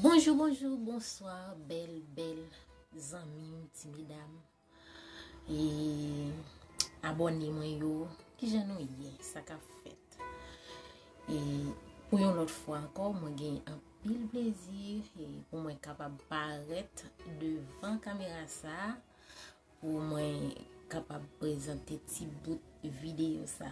Bonjou bonjou bonswa bèl bèl zanmim ti medam e abòne mwen yo ki jan nou ye sa ka fèt e pou yon lòt fwa ankò mwen gen anpil plezi e pou mwen kapab parèt devan kamera sa pou mwen kapab prezante ti bout videyo sa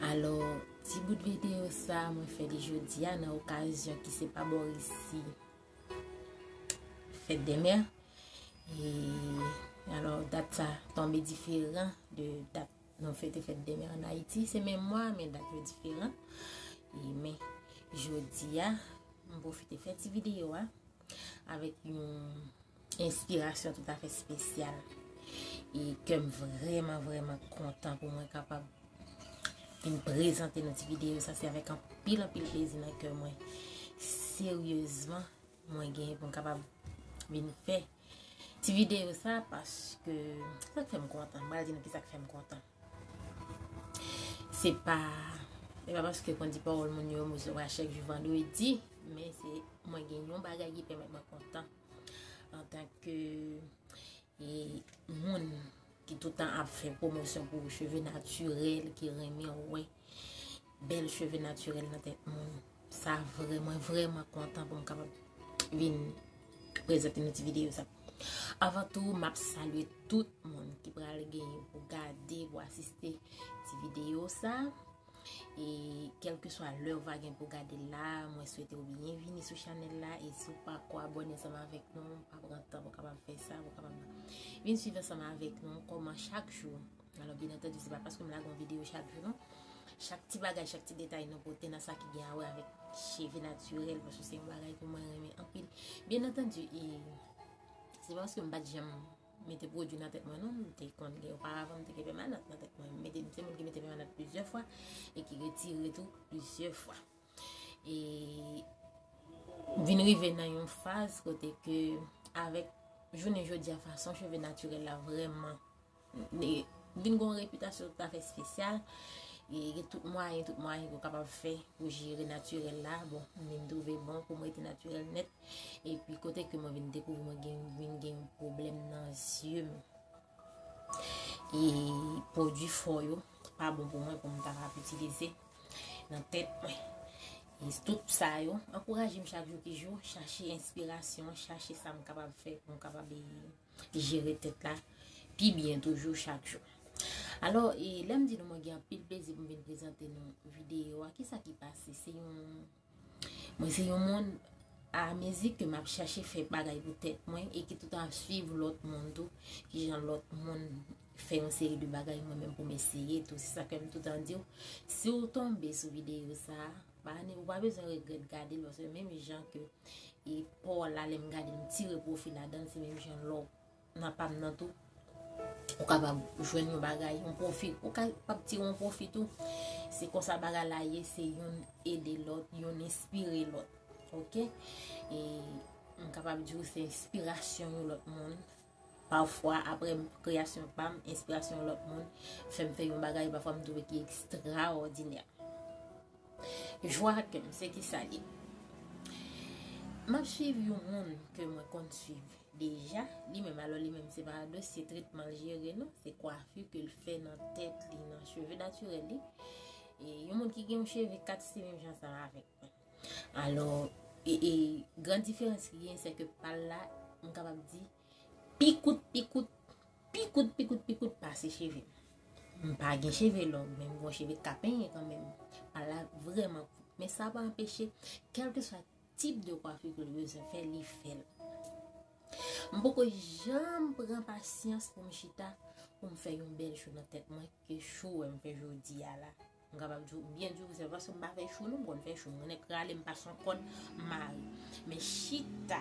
Alò, ti bout videyo sa mwen fè li jodi a nan okazyon ki se pa bò resi fèt de mè. E, alò, dat sa tonbe diferan de dat nou fete fèt de mè an Ayiti. Se men mwa, men dat yo diferan. E, men, jodi a, mwen pwofite fè ti videyo a avèk yon... enspirasyon tout afè spesyal e kèm vreman vreman kontan pou mwen kapab vin prezante nou ti videyo sa se avèk an pil an pil plezi nan kèm mwen seryezman mwen gen pou m kapab vin fè ti videyo sa paske sa kèm kontan mwen adi nou ki sa kèm kontan se pa e pa paske kon di pa ou l moun yo mou se wachèk jou vandou e di men se mwen gen yon bagay ki pèmèt mwen kontan Antan ke moun ki toutan ap fè pwomosyon pou cheve natirèl ki renmen wè bèl cheve natirèl nan tèt moun. Sa vreman vreman kontan pou m kapap vin prezante nou ti videyo sa. Avan tou m ap salye tout moun ki pral gen pou gade pou asiste ti videyo sa. E kelkeswa lè ou va gen pou gade l la, mwen swete ou byen vini sou chanèl la. E si ou pa ko abone ansanm avèk nou, pa pran tan pou kapab fè sa. Vin swiv ansanm avèk nou, kòman chak jou. Alò, byen antèdi, se pa paske m lage yon videyo chak jou non. Chak ti bagay, chak ti detay nou pote nan sa ki gen a wè avèk cheve natirèl. Paske se yon bagay ke mwen renmen anpil. Byen antèdi, e se paske m pa t janm. mete pwodwi nan tèt mwen non, m te konn gen oparavan m te gen pèmanant nan tèt mwen, m mete m se moun ki mete pèmanant plizyè fwa e ki retire tou plizyè fwa e m vin rive nan yon faz kote ke avèk jounen jodi a fason cheve natirèl la vrèman vin gon repitasyon tout afè spesyal e gen tout mwayen tout mwayen pou kapab fè pou jere natirèl la bon m vin twouve bon pou m rete natirèl nèt. E pi kote ke mwen vin dekouvri mwen gen vin gen yon problem nan zye m. E pwodwi fò yo, pa bon pou mwen pou m ta ka ap itilize nan tèt mwen. E tout sa yo, ankouraje m chak jou ki jou, chache enspirasyon, chache sa m kapab fè pou m kapab e jere tèt la pi byen toujou chak jou. Alò, e lè m di nou mwen gen anpil plezi pou m vin prezante nou videyo a, ki sa ki pase? Se yon... Mwen se yon moun a mezi ke map chache fè bagay pou tèt mwen e ki toutan ap swiv lòt moun tou, ki jan lòt moun fè yon seri de bagay mwen menm pou m eseye tou. Se sa ke m toutan di w, si w tonbe sou videyo sa, ou pa bezwen regrèt gade l, paske menm jan ke e pa w la lè m gade l m tire pwofi ladan l, se menm jan lè w nan pam nan tou ou kapab jwenn yon bagay yon pwofi ou kapab tire yon pwofi tou se konsa bagay la ye se yon ede lòt yon espire lòt ok e m kapab di ou se espirasyon yon lòt moun pafwa apre kreasyon pam espirasyon yon lòt moun fèm fè yon bagay pafwa m dwe ki ekstra òdinè Jwa kem se kisa li. Map swiv yon moun ke mwen konn swiv deja li menm alò li menm se pa dosye tretmanl jere non se kwafi kel fè nan tèt li nan cheve natirèl li e yon moun ki gen yon cheve 4 se menm jan sa avèk mwen alò e gran diferans ki gen se ke pal la m kapab di Pi kout pi kout Pi kout pi kout pi kout pase cheve m. M pa gen cheve long men m gen yon cheve ka penyen kanmenm. Pal la vrèman kout men sa pa anpeche kèlkeswa tip de kwafi ke l bezwen fè li fè l. M poko janm pran pasyans pou m chita pou m fè yon bèl cho nan tèt mwen ke cho wè m fè jodi a la. M kapab di w byen di w sèl paske m pa fè chou non m konn fè chou m konnen krale m pa son kòd mare men chita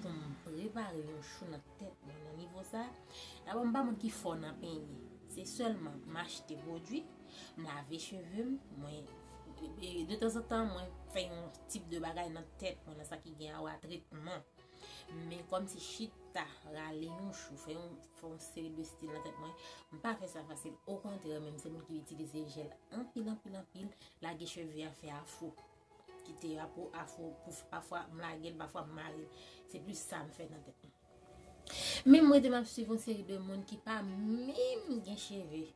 pou m prepare yon chou nan tèt mwen nan nivo sa dabò m pa moun ki fò nan penyen se sèlman m achte pwodwi m lave cheve m mwen de tanzantan mwen fè yon tip de bagay nan tèt mwen nan sa ki gen a wè a tretman men kòm se chita rale yon chou fè yon Fò m seri de stil nan tèt mwen. M pa fè sa fasil. Okontrè menm se moun ki itilize jèl anpil anpil anpil. Lage cheve a fè afro. Kite a pou afro. Pafwa m lage l, pafwa m mare l. Se plis sa m fè nan tèt mwen. Men m rete m ap swiv yon seri de moun ki pa menm gen cheve.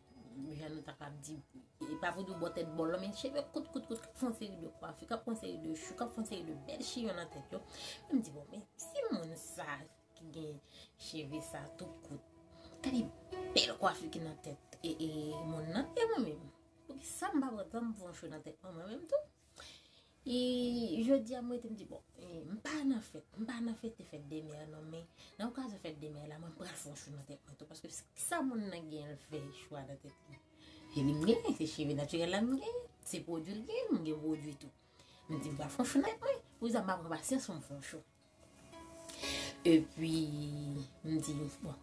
Jan nou ta kab di. E pa pou di w bò tèt bò lò men cheve kout kout kout k ap fè yon seri de kwafi, k ap fè yon seri de chou, k ap fè yon seri de bèl chiyon nan tèt yo. Men m di bon men si moun sa. Ki gen cheve sa tout kout. Gade bel kwafi ki nan tet e e moun nan. E mwen menm. Pou ki sa m pa pran tan m fon cheve nan tet mwen mwen menm tou. E jodi a mwen te m di bon. M pa nan fet. M pa nan fete fet de mè nan men. Nan okazyon fet de mè la mwen pral fon cheve nan tet mwen tou. Paske ki sa moun nan gen l fè chwa nan tet li. E li m gen. Se cheve natirel la m gen. Se pwodwi l gen. M gen pwodwi tou. M di m pral fon cheve nan tet mwen. Pou ki sa m pa pran pasyans pou m fon cheve. E pi, m di, bon,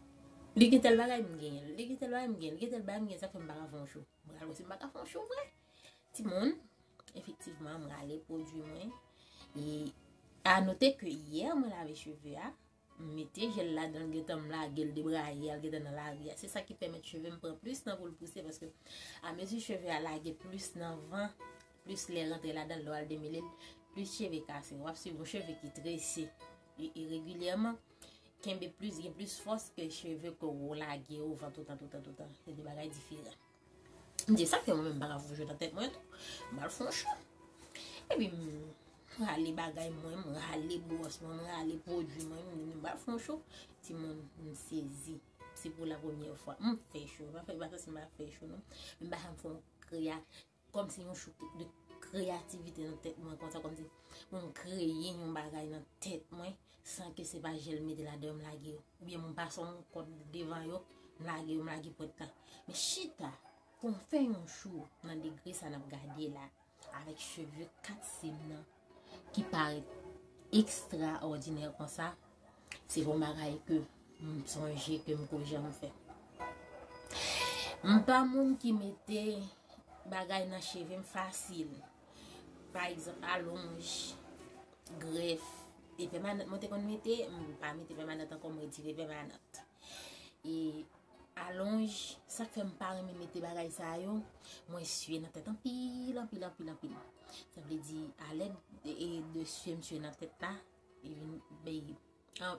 li gen tèl bagay m genyen l, li gen tèl bagay m genyen l, li gen tèl bagay m genyen l, sa k fè m pa ka fè yon chou? M gade wè si m pa ka fè yon chou vre. Timoun, efektivman, m rale pwodui mwen. E, anote ke yè mwen lave cheve a, m mete jèl ladan l, gen tan m lage l, debraye al gen tan nan lari a. Se sa ki pèmèt cheve m pran plis tan pou l pouse, paske amezi cheve a lage plis nan van, Plis lè rantre ladan l lè w al demele l, plis cheve kase. W ap swiv yon cheve ki trese regilyèman, kenbe plis, gen plis fòs ke cheve ke w lage ouvan toutan toutan toutan. Se 2 bagay diferan. M di sa ke mwen menm m pa ka fout jwe nan tèt mwen tou. M al fon chan. Epi m rale bagay mwen, m rale bwòs mwen, m rale pwodui mwen. M di m al fon chan. Timoun, m sezi. Se pou la premyè fwa. M fè cho. M pa fè cho non. M pa janm fè yon kri a. Kòm se yon chouk de kreyativite nan tèt mwen konsa kòm se pou m kreye yon bagay nan tèt mwen san ke se pa jel m mete ladan yo m lage yo. Oubyen m pase yon kòd devan yo m lage yo m lage pwent la. Men chita pou m fè yon chou nan degre sa n ap gade la avèk cheve 4 sib nan. ki parèt ekstraòdinè konsa, se yon bagay ke m sonje ke m ko janm fè. M pa moun ki mete bagay nan cheve m fasil. Pa egzanp, alonj, grèf, te pèmanant mwen te konn mete, m pa mete pèmanant ankò, m retire pèmanant. E Alonj sak fè m pa renmen mete bagay sa yo mwen sye nan tèt anpil anpil anpil anpil sa vle di alèd de sye msye nan tèt la li vin beye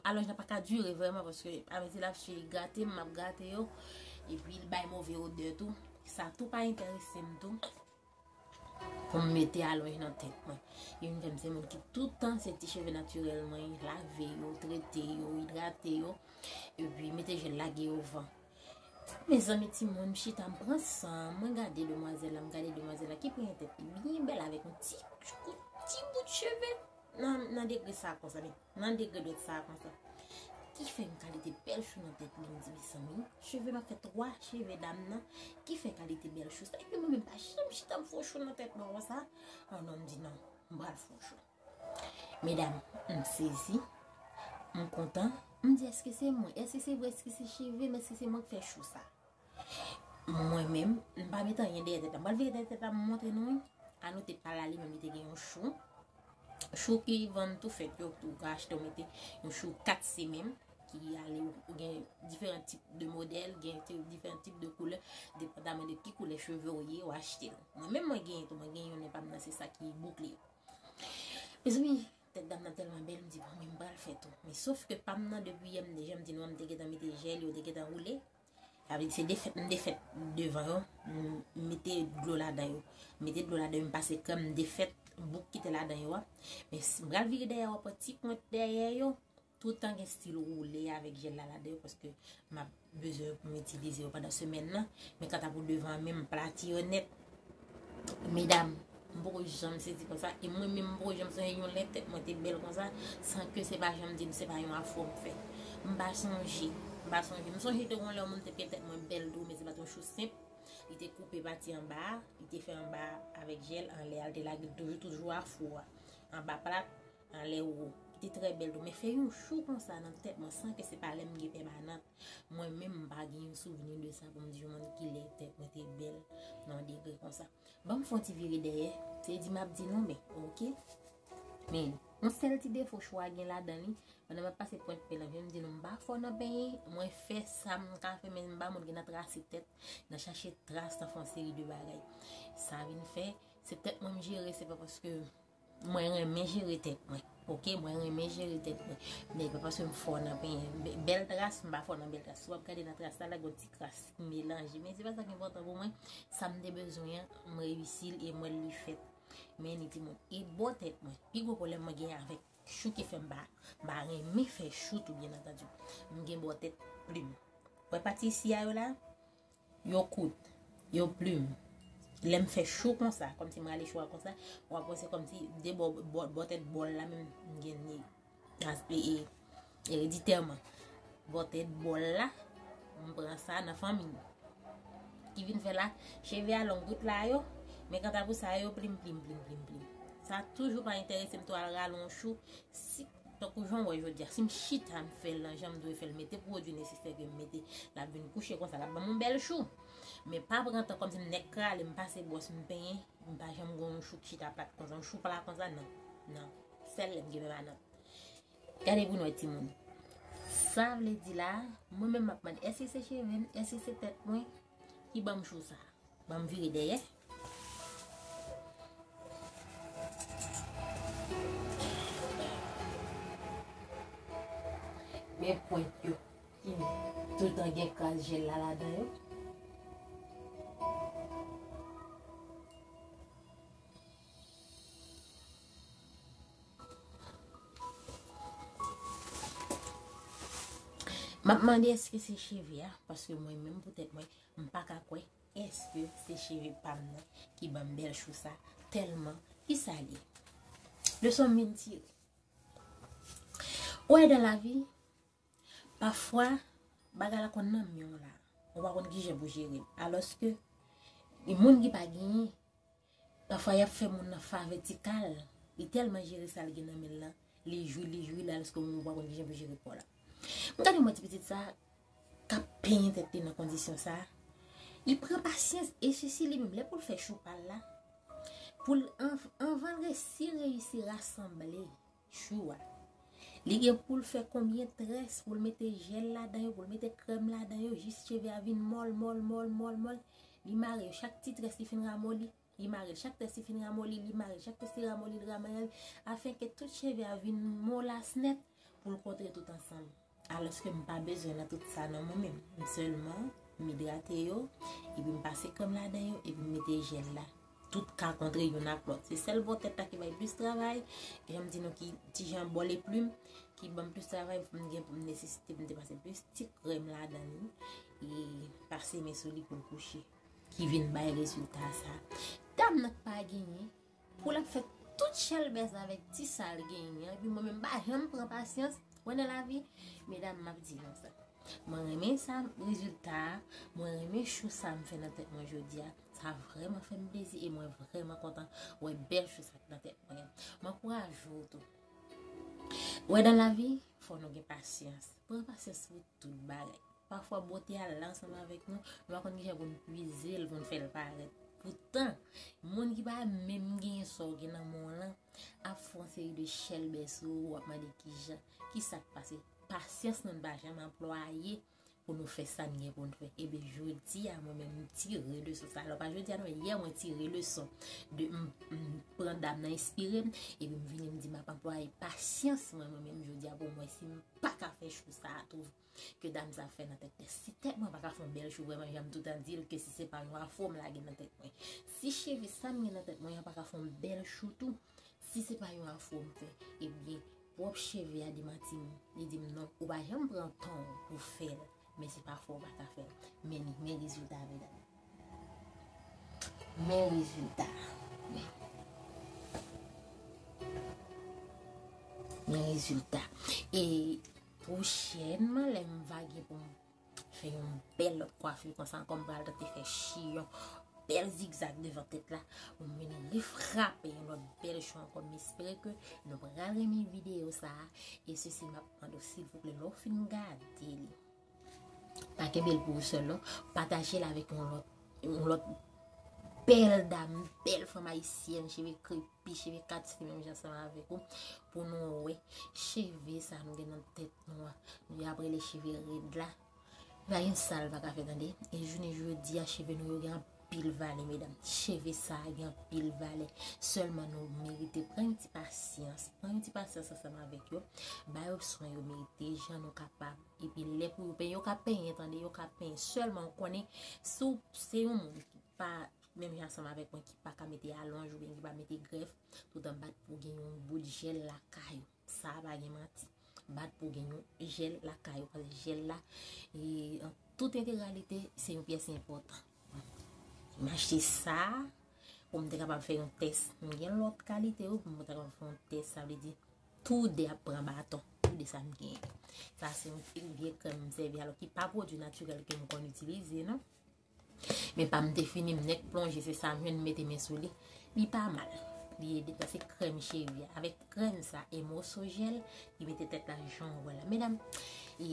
alonj la paka dure vreman paske amezi lap sye li grate map grate yo epi li bay move odè tou sa tou pa enterese m tou. Pou m mete alonj nan tèt mwen. Li vin fè m se moun ki toutan se ti cheve natirèl mwen, lave yo, trete yo, idrate yo, epi mete jèl lage yo van. Mezanmi timoun, m chita m pran san, mwen gade demwazèl la, m gade demwazèl la ki pran yon tèt li byen bèl avèk yon ti kout, ti bout cheve nan degre sa konsa. Nan degre dwèt sa konsa. Ki fè yon kalite bèl chou nan tèt li mdi mesanmi. Cheve map fè 3 cheve dam nan. Ki fè kalite bèl chou sa. Epi mwen menm pa janm chita m fon chou nan tèt mwen konsa. An non mdi non. M pral fon chou. Medam m sezi. M kontan. Mdi eske se mwen. Eske se vre eske se cheve m. Eske se mwen k fè chou sa. Mwen menm, m pa met anyen dèyè tèt la. M pral vire dèyè tèt la m montre nou wi. Anou te pral ale menm li te gen yon chou. Chou ki vann tou fèt yo, ou ka achte ou mete. Yon chou 4 semenm ki ale ou gen diferan tip de modèl, gen diferan tip de koulè. Depandaman de ki koulè cheve ou ye, ou achte. Mwen menm mwen genyen tou, mwen genyen yonnen pa m nan se sa ki boukle. Mezanmi, tèt dam nan tèlman bèl m di bon, m pral fè tou. Men sof ke pa m nan depi yè m deja m di nou an m te gentan mete jèl yo te gentan woule. Sa vle di se defèt m defèt devan yo, m mete dlo ladan yo. M mete dlo ladan yo, m pase krèm, m defèt bouk ki te ladan yo a. Men si m pral vire dèyè yo, pran ti pwent dèyè yo, toutan gen stil woule avèk jèl la ladan yo, paske m ap bezwen pou m itilize yo pandan semèn nan. Men kanta pou devan an menm, m plati yo nèt. Medam, m poko janm sezi konsa e mwen menm m poko janm sonje yon lè tèt mwen te bèl konsa san ke se pa janm di m se pa yon afro m fè. M pa sonje, m pa sonje. M sonje te gon lè yon moun te fè tèt mwen bèl tou men se pat yon chou senp. Li te koupe pati anba a, li te fè anba a avèk jèl, anlè a li te lage l toujou toujou afro a anba plat. Anlè ou te trè bèl tou men fè yon chou konsa nan tèt mwen san ke se pa lèm gen pèmanant mwen menm m pa gen yon souvni de sa pou m di yon moun kilè tèt mwen te bèl nan yon degre konsa banm fon ti vire dèyè se di map di non men ok men yon sèl ti defo chou a gen ladan li pandan map pase pwent penm nan jem di nou m pa fò nan penyen mwen fè sam ka fè men m pa moun ki nan trase tèt nan chache tras nan fon seri de bagay sa vin fè se tèt mwen m jere se pa paske. Mwen renmen jere tèt mwen ok mwen renmen jere tèt mwen men epa paske m fò nan penyen bèl tras m pa fò nan bèl tras si wap gade nan tras la la gon ti kras ki melanje men se pa sa ki enpòtan pou mwen sa m te bezwen an m reyisi l e m wè li fèt men ni ti moun e bò tèt mwen pi gwo pwoblèm mwen gen avèk chou ki fèm ba m pa renmen fè chou tou byen antandu m gen bò tèt plim wè pati isi a yo la Yo kout. Yo plim. Lè m fè chou konsa, kòm si m rale chou a konsa, ou ap wè se kòm si de bò, bò tèt bòl la menm m gen ni. As e e. Ereditèman. Bò tèt bòl la, m pran sa nan fanmi m. Ki vin fè la, cheve a long tout la yo, men kanta pou sa yo, yo plim plim plim plim plim. Sa toujou pa enterese m tou al rale yon chou, si. Tankou jan w wè jodi a, si m chita m fè l nan jan m dwe fè l, mete pwodui nesesè ke m mete, l ap vin kouche konsa, l ap ban m yon bèl chou. Men pa pran tan kòmsi m nèk krale, m pase bwòs, m penyen, m pa janm gen yon chou ki chita plat konsa, yon chou pla konsa, nan. Nan. Sèl lè m gen pèmanant. Gade pou n wè timoun. Sa vle di la, mwen menm m ap mande, èske se cheve m, èske se tèt mwen ki ban m chou sa a? Ban m vire dèyè, Men pwent yo ki toutan gen kras jel la ladan yo. Map mande eske se cheve a, paske mwen menm pou tèt mwen, m pa ka kwè Eske se cheve pam nan ki banm bèl chou sa tèlman ki sa li leson m vin tire ou wè dan lavi pafwa bagay la konn nan menw la ou pa konn kijan pou jere l alòske moun ki pa genyen Pafwa yap fè moun nan favè ti kal li tèlman jere sal gen nan menl lan li jwi li jwi la lske moun pa konn kijan pou jere kòl m gade mwen ti pitit sa kap penyen tèt li nan kondisyon sa li pran pasyans e sisi li menm lè poul fè chou pal la poul anvanl resi reyisi rasanble Chou a. Li gen poul fè konbyen très poul mete jel ladan yo poul mete krèm ladan yo jis cheve a vin mòl mòl mòl mòl mòl li mare yo chak ti très li fin ramoli li marel chak très li fin ramoli li marel chak très li ramoli li ramarel afenke tout cheve a vin molas nèt poul kontre tout ansanm. Alòske m pa bezwen nan tout sa non mwen menm. M sèlman, m idrate yo, epi m pase krèm ladan yo, epi m mete jèl la. Tout ka kontre youn ak lòt. Se sèl bò tèt la ki bay plis travay, e jan m di nou ki ti jan bò leplim, ki ban m plis travay pou m gen pou m nesesite pou m te pase plis ti krèm ladan li, e pase men sou li pou l kouche. Ki vin bay rezilta sa. Dam nan k pa genyen. Pou lap fè tout chèlbè sa avèk ti sal genyen an epi mwen menm mpa janm pran pasyans mwen nan lavi medam map di nou sa mwen renmen sa rezilta a mwen renmen chou sa mfè nan tèt mwen jodia sa vrèman fèm plezi e mwen vrèman kontan wè bèl chou sa ki nan tèt mwen m ankouraje w tou wè nan lavi fò nou gen pasyans pran pasyans pou tout bagay. Pafwa bote a la ansanm avèk nou, nou pa konn kijan pou nou pwize l, pou nou fè l parèt. Poutan, moun ki pa menm gen sa w gen nan men w lan, ap fè yon seri de chèlbè sou ou, ap mande kijan, ki sa k pase. Pasyans nou, nou pa janm anplwaye pou nou fè sa n gen pou n fè. Eben, jodi a, mwen menm, m tire leson sa. Alò, pa jodi a non, yè mwen tire leson de m pran dam nan enspire m, epi m vini m di m ap anplwaye pasyans mwen mwen menm jodi a pou m wè si m pa ka fè chou sa a tou. ke dam sa fè nan tèt tè si tèt mwen paka fon bèl chou vrèman janm toutan dil ke si se pa yon afro m lage nan tèt mwen si cheve sam gen nan tèt mwen an paka fon bèl chou tou si se pa yon afro m fè ebyen pwòp cheve a demantim li dim non ou pa janm pran tanw pou fèl men se pa fòw paka fèl men li men rezilta medam men rezilta men rezilta e. Pwochènman lè m va gen pou m fè yon bèl lòt kwafi konsa ankò m pral tante fè chiyon bèl zigzag devan tèt la pou m vin refrape yon lòt bèl chou ankò m espere ke nou pral renmen videyo sa e sisi m ap mande w silvouplè lè w fin gade li pa kenbe l pou ou sèl non pataje l avèk yon lòt Yon lòt bèl dam, yon bèl fanm ayisyèn, cheve krepi, cheve katike menm jan san avèk ou, pou nou wè, cheve sa nou gen nan tèt nou a, nou y ap rele cheve red la, pa gen sa l pa ka fè tande, e jounen jodi a, cheve nou yo gen anpil valè medam, cheve sa a gen anpil valè, sèlman nou merite pran yon ti pasyans, pran yon ti pasyans ansanm avèk yo, ba yo swen yo merite, jan nou kapab. Epi lè pou yo penyen, yo ka penyen tande, yo ka penyen. Sèlman ou konnen, si ou se yon moun ki pa menm jan ansanm avèk mwen ki pa ka mete alonj oubyen ki pa mete grèf, tout an bat pou gen yon bout jèl lakay ou. Sa a pa gen manti. Bat pou gen yon jèl lakay ou. Paske jèl la, en tout entegralite, se yon pyès enpòtan. M achte sa a pou m te kapab fè yon tès. M gen lòt kalite yo pou m te kapab fè yon tès. Sa vle di. Tou 2 ap pran baton. Tou 2 sa m gen. Sa se yon vye krèm m sèvi alò ki pa pwodwi natirèl ke m konn itilize non. Men pa m te fini m nèk plonje se sa m jwenn m mete men sou li. Li pa mal. Li ede sa se krèm cheve. Avèk krèm sa e moso jèl li mete tèt la jan w wè la. Medam e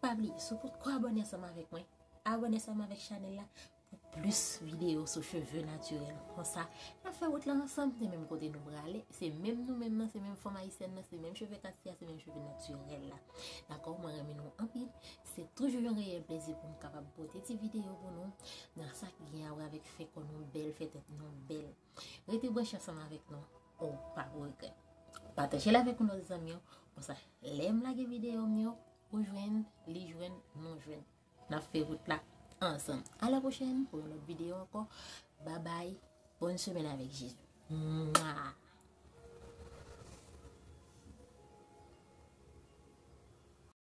pa bliye sou pot ko abòne ansanm avèk mwen. Abòne ansanm avèk chanèl la Pou plis videyo sou cheve natirèl konsa, nap fè wout lan ansanm, se menm kote nou prale, se menm nou menm nan, se menm fanm ayisyèn nan, se menm cheve katya, se menm cheve natirèl la. Dakò, mwen renmen nou anpil, se toujou yon reyèl plezi pou m kapab pote ti videyo pou nou, nan sa ki gen a wè avèk fè kò nou bèl, fè tèt nou bèl. Rete branche ansanm avèk nou, ou pa pou regrèt. Pataje l avèk yon lòt zanmi w, konsa lè m lage videyo m yo, ou jwenn, li jwenn, nou jwenn. Nap fè wout la ansanm. A la pwochèn pou yon lòt videyo ankò. Babay. Bòn semèn avèk Jezi. Mwa!